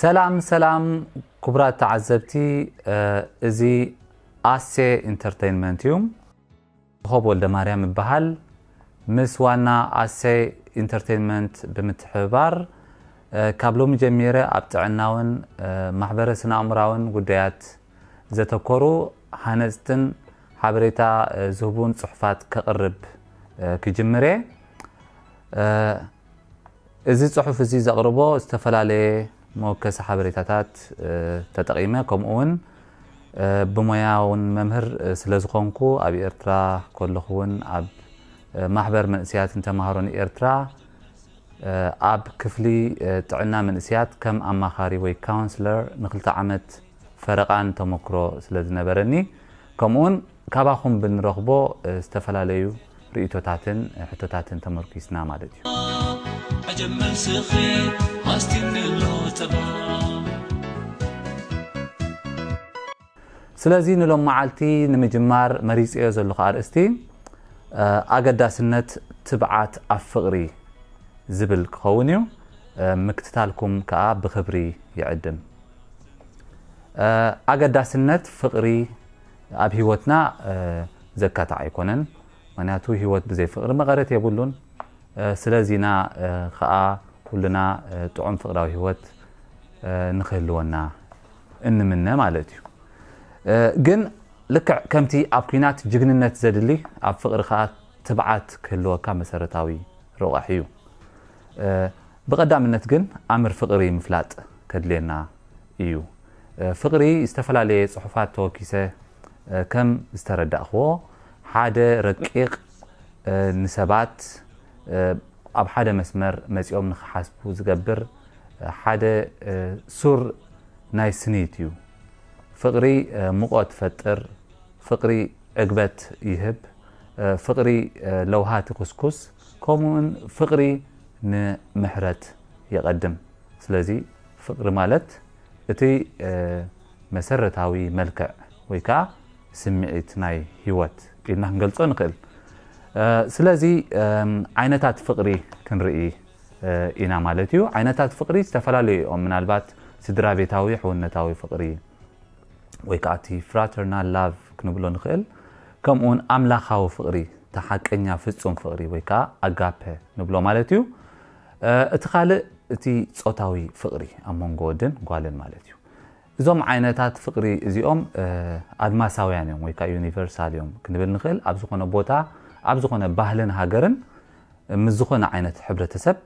ሰላም ሰላም ክቡራት ተዓዘብቲ እዚ ኣሴ ኢንተርተይንመንት እዩ ኮኾብ ወልደማርያም እበሃል። ምስ ዋና ኣሰይ ኢንተርተይንመንት ብምትሕብባር ካብ ሎሚ ጀሚረ ኣብ ጥዕናውን ማሕበረ ስነኣእምሮኣውን ጉዳያት ዘተኮሩ ሃነጽትን ሓበሬታ ዝህቡን ጽሑፋት ከቕርብ ክጅምር እየ። እዚ ጽሑፍ እዚ ዘቕርቦ ዝተፈላለየ መወከሲ ሓበሬታታት ተጠቒመ ከምኡ ውን ብሞያ ውን መምህር ስለዝኾንኩ ኣብ ኤርትራ ከለኹ ውን ኣብ ማሕበር መንእሰያትን ተማሃሮን ኤርትራ ኣብ ክፍሊ ጥዕና መንእሰያት ከም ኣማኻሪ ወይ ካውንስለር ንክልተ ዓመት ፈረቓን ተሞክሮ ስለዝነበረኒ ከምኡ ውን ካባኹም ብንረኽቦ ዝተፈላለዩ ርእይቶታትን ሕቶታትን ተመርኲስና ማለት እዩ። ኣጀብ መልስኺ ኣስቲንሎ ተባዕ። ስለዚ ንሎምዓልቲ ንምጅማር መሪጸዮ ዘለኹ ኣርእስቲ ኣገዳስነት ትብዓት ኣብ ፍቕሪ ዝብል ክኸውን እዩ። ምክትታልኩም ከኣ ብኽብሪ ይዕድም። ኣገዳስነት ፍቕሪ ኣብ ሂወትና ዘካታዕ ኣይኮነን ምክንያቱ ሂወት ብዘይ ፍቅሪ መቀረት የብሉን ስለዚ ኢና ክኣ ኩልና ጥዑም ፍቅራዊ ሂወት ንክህልወና እንምነ ማለት እዩ ግን ልክዕ ከምቲ ኣብ ኩናት ጅግንነት ዘድሊ ኣብ ፍቅሪ ክኣ ትብዓት ክህልወካ መሰረታዊ ሮቃሒ እዩ ብቀዳምነት ግን ኣምር ፍቅሪ ምፍላጥ ከድልየና እዩ ፍቅሪ ዝተፈላለየ ጽሑፋት ተወኪሰ ከም ዝተረዳእክዎ ሓደ ረቂቅ ንሰባት ኣብ ሓደ መስመር መጺኦም ንክሓስቡ ዝገብር ሓደ ሱር ናይ ስኒት እዩ ፍቅሪ ሙቆት ትፈጥር ፍቅሪ ዕግበት ይህብ ፍቅሪ ለውሃት ይኩስኩስ ከምኡውን ፍቅሪ ንምሕረት የቀድም ስለዚ ፍቕሪ ማለት እቲ መሰረታዊ መልክዕ ወይ ከኣ ስምዒት ናይ ህይወት ኢልና ክንገልጾ ንኽእል። ስለዚ ዓይነታት ፍቕሪ ክንርኢ ኢና ማለት እዩ። ዓይነታት ፍቕሪ ዝተፈላለዩ እዮም። ምናልባት ስድራቤታዊ ሕውነታዊ ፍቕሪ ወይ ከኣ እቲ ፍራተርናል ላቭ ክንብሎ ንኽእል። ከምኡውን ኣምላኻዊ ፍቕሪ እቲ ሓቀኛ ፍጹም ፍቕሪ ወይ ከኣ ኣጋፐ ንብሎ ማለት እዩ። እቲ ካልእ እቲ ጾታዊ ፍቕሪ ኣብ መንጎ ወድን ጓልን ማለት እዩ። እዞም ዓይነታት ፍቕሪ እዚኦም ኣድማሳውያን እዮም ወይ ከኣ ዩኒቨርሳል እዮም ክንብል ንኽእል። ኣብ ዝኾነ ቦታ ኣብ ዝኾነ ባህልን ሃገርን ምስ ዝኾነ ዓይነት ሕብረተሰብ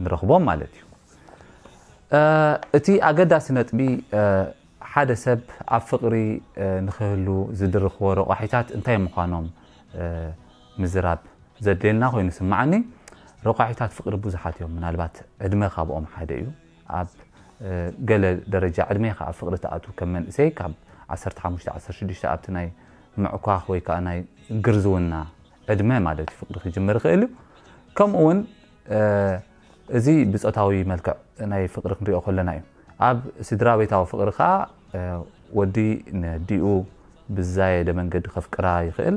ንረኽቦም ማለት እዩ። እቲ ኣገዳሲ ነጥቢ ሓደ ሰብ ኣብ ፍቕሪ ንኽህሉ ዝድርኽዎ ረቋሒታት እንታይ ምዃኖም ምዝራብ ዘድልየና ኮይኑ ስማዓኒ ረቋሒታት ፍቅሪ ቡዙሓት እዮም ምናልባት ዕድመ ካብኦም ሓደ እዩ ኣብ ገለ ደረጃ ዕድሜካ ኣብ ፍቅሪ ትኣትው ከም መንእሰይ ካብ ዓሰርተ ሓሙሽተ ዓሰርተ ሽዱሽተ ኣብቲ ናይ ምዕኳክ ወይ ከኣ ናይ ግርዝውና ዕድመ ማለት እዩ ፍቅሪ ክጅምር ይክእል እዩ ከምኡ ውን እዚ ብጾታዊ መልክዕ ናይ ፍቅሪ ክንሪኦ ከለና እዩ። ኣብ ስድራቤታዊ ፍቅሪ ከኣ ወዲ ንዲኡ ብዝዛየደ መንገዲ ከፍቅራ ይኽእል፣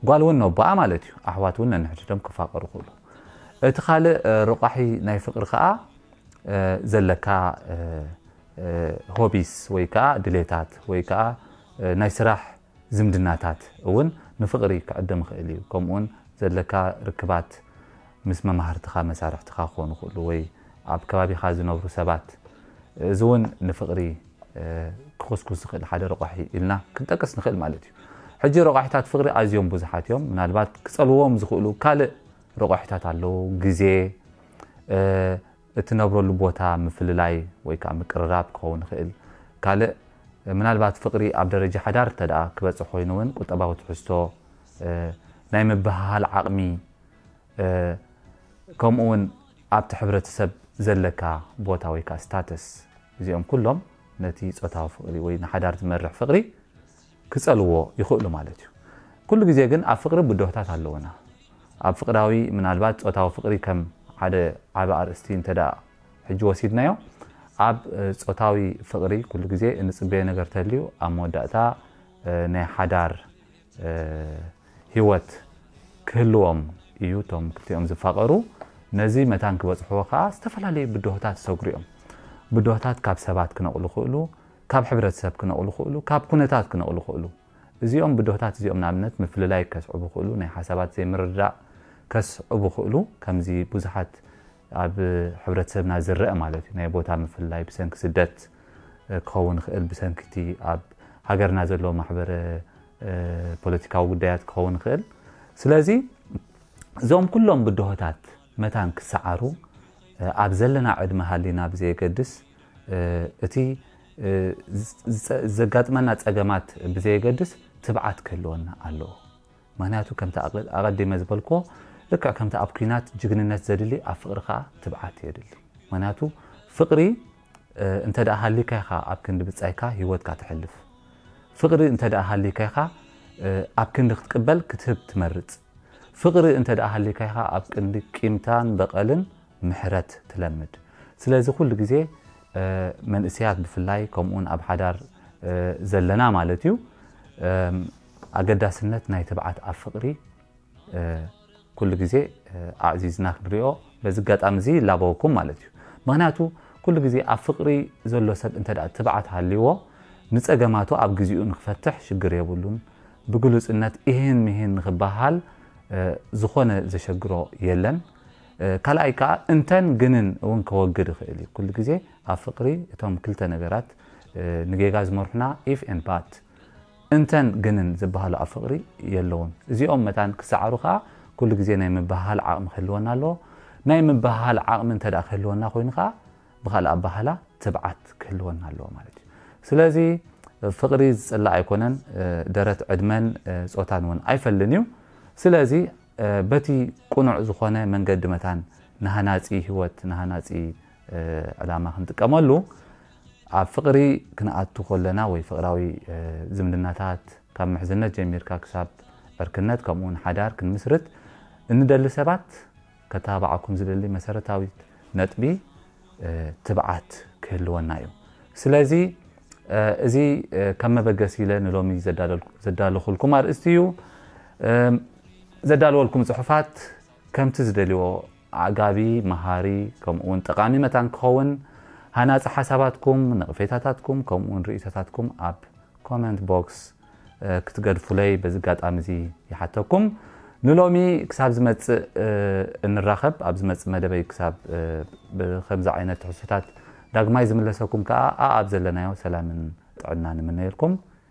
ጓል ውን ነቦኣ ማለት እዩ። ኣሕዋት ውን ነንሕድሕዶም ክፋቀሩ ይኽእሉ። እቲ ካልእ ሮቋሒ ናይ ፍቅሪ ከኣ ዘለካ ሆቢስ ወይ ከኣ ድሌታት ወይ ከኣ ናይ ስራሕ ዝምድናታት ውን ንፍቅሪ ክዕድም ይኽእል እዩ። ከምኡ ውን ዘለካ ርክባት፣ ምስ መማህርትኻ፣ መሳርሕትኻ ክኾኑ ይኽእሉ ወይ ኣብ ከባቢኻ ዝነብሩ ሰባት፣ እዚ እውን ንፍቕሪ ክኹስኩስ ዝኽእል ሓደ ረቋሒ ኢልና ክንጠቅስ ንኽእል ማለት እዩ። ሕጂ ረቋሒታት ፍቕሪ ኣዝዮም ብዙሓት እዮም። ምናልባት ክጸልውዎም ዝኽእሉ ካልእ ረቋሒታት ኣለዉ፣ ግዜ፣ እትነብረሉ ቦታ፣ ምፍልላይ ወይ ከኣ ምቅርራብ ክኸውን ይኽእል። ካልእ ምናልባት ፍቕሪ ኣብ ደረጃ ሓዳር እንተድኣ ክበጽሕ ኮይኑ እውን ቁጠባዊ ትሕዝቶ፣ ናይ ምብህሃል ዓቕሚ፣ ከምኡ ውን ኣብቲ ሕብረተሰብ ዘለካ ቦታ ወይ ከዓ ስታተስ እዚኦም ኩሎም ነቲ ፆታዊ ፍቕሪ ወይ ንሓዳር ዝመርሕ ፍቕሪ ክፀልዎ ይኽእሉ ማለት እዩ። ኩሉ ግዜ ግን ኣብ ፍቕሪ ብድሆታት ኣለዉና። ኣብ ፍቕራዊ ምናልባት ፆታዊ ፍቕሪ ከም ሓደ ዓቢ ኣርእስቲ እንተ ሕጂ ወሲድናዮ ኣብ ፆታዊ ፍቕሪ ኩሉ ግዜ እንፅበዮ ነገር ተልዩ ኣብ መወዳእታ ናይ ሓዳር ህይወት ክህልዎም እዩ። እቶም ክልቲኦም ዝፋቐሩ ነዚ መታን ክበጽሕዎ ከኣ ዝተፈላለዩ ብድሆታት ይሰግሩ እዮም። ብድሆታት ካብ ሰባት ክነቕሉ ይኽእሉ፣ ካብ ሕብረተሰብ ክነቕሉ ይኽእሉ፣ ካብ ኩነታት ክነቕሉ ይኽእሉ። እዚኦም ብድሆታት እዚኦም ንኣብነት ምፍልላይ ከስዕቡ ይኽእሉ፣ ናይ ሓሳባት ዘይምርድዳእ ከስዕቡ ይኽእሉ፣ ከምዚ ብዙሓት ኣብ ሕብረተሰብና ዝረኣ ማለት እዩ። ናይ ቦታ ምፍልላይ ብሰንኪ ስደት ክኸውን ይኽእል፣ ብሰንኪ እቲ ኣብ ሃገርና ዘሎ ማሕበረ ፖለቲካዊ ጉዳያት ክኸውን ይኽእል። ስለዚ እዞም ኩሎም ብድሆታት መታን ክሰዓሩ ኣብ ዘለና ዕድመ ሃሊና ብዘየገድስ እቲ ዘጋጥመና ፀገማት ብዘየገድስ ትብዓት ክህልወና ኣለዎ። ምክንያቱ ከምቲ ኣቐዲመ ዝበልክዎ ልክዕ ከምቲ ኣብ ኩናት ጅግንነት ዘድሊ ኣብ ፍቕሪ ከኣ ትብዓት የድሊ ምክንያቱ ፍቕሪ እንተ ሃልይካ ኢኻ ኣብ ክንዲ ብጻይካ ሂወትካ ተሕልፍ ፍቕሪ እንተ ሃልይካ ኢኻ ኣብ ክንዲ ክትቅበል ክትህብ ትመርጽ ፍቕሪ እንተ ሃልይካ ኢኻ ኣብ ቅንዲ ቂምታን በቐልን ምሕረት ትለምድ ስለዚ ኩሉ ግዜ መንእሰያት ብፍላይ ከምኡውን ኣብ ሓዳር ዘለና ማለት እዩ ኣገዳስነት ናይ ትብዓት ኣብ ፍቕሪ ኩሉ ግዜ ኣዕዚዝና ክንሪኦ በዚ ኣጋጣሚ እዚ ይላበወኩም ማለት እዩ። ምኽንያቱ ኩሉ ግዜ ኣብ ፍቕሪ ዘሎ ሰብ እንተ ትብዓት ሃልይዎ ንጸገማቱ ኣብ ግዚኡ ንክፈትሕ ሽግር የብሉን። ብግሉጽነት ኢሂን ምሂን ንክበሃል ዝኾነ ዘሸግሮ የለን። ካልኣይ ከኣ እንተን ግንን እውን ከወግድ ይኽእል እዩ። ኩሉ ግዜ ኣብ ፍቕሪ እቶም ክልተ ነገራት ንጌጋ ዝመርሑና ኢፍ ኤንድ ባት፣ እንተን ግንን ዝበሃሉ ኣብ ፍቕሪ የለዉን። እዚኦም መታን ክሰዓሩ ከኣ ኩሉ ግዜ ናይ ምብህሃል ዓቕሚ ክህልወና ኣለዎ። ናይ ምብህሃል ዓቕሚ እንተ ደኣ ክህልወና ኮይኑ ከኣ ብኻልእ ኣበሃህላ ትብዓት ክህልወና ኣለዎ ማለት እዩ። ስለዚ ፍቕሪ ዝጽላእ ኣይኮነን፣ ደረት፣ ዕድመን ጾታን እውን ኣይፈልን እዩ። ስለዚ በቲ ቅኑዕ ዝኾነ መንገዲ መታን ንሃናጺ ህይወት ንሃናጺ ዕላማ ክንጥቀመሉ፣ ኣብ ፍቕሪ ክንኣቱ ከለና ወይ ፍቕራዊ ዝምድናታት ካብ ምሕዝነት ጀሚርካ ክሳብ ዕርክነት ከምኡውን ሓዳር ክንምስርት እንደሊ ሰባት ከተባብዓኩም ዝደሊ መሰረታዊት ነጥቢ ትብዓት ክህልወና እዩ። ስለዚ እዚ ከም መበገሲ ኢለ ንሎሚ ዘዳለኹልኩም ኣርእስቲ እዩ። ዘዳለወልኩም ጽሑፋት ከምቲ ዝደልዎ ኣዕጋቢ፣ መሃሪ ከምኡ'ውን ጠቓሚ መታን ክኸውን፣ ሃናጺ ሓሳባትኩም፣ ነቕፌታታትኩም ከምኡ'ውን ርእይቶታትኩም ኣብ ኮመንት ቦክስ ክትገድፉለይ በዚ ኣጋጣሚ'ዚ ይሓተኩም። ንሎሚ ክሳብ ዝመጽእ እንራኸብ፣ ኣብ ዝመጽእ መደበይ ክሳብ ብከምዚ ዓይነት ትሕዝቶታት ዳግማይ ዝምለሰኩም ከኣ ኣኣብ ዘለናዮ ሰላምን ጥዕናን እምነየልኩም።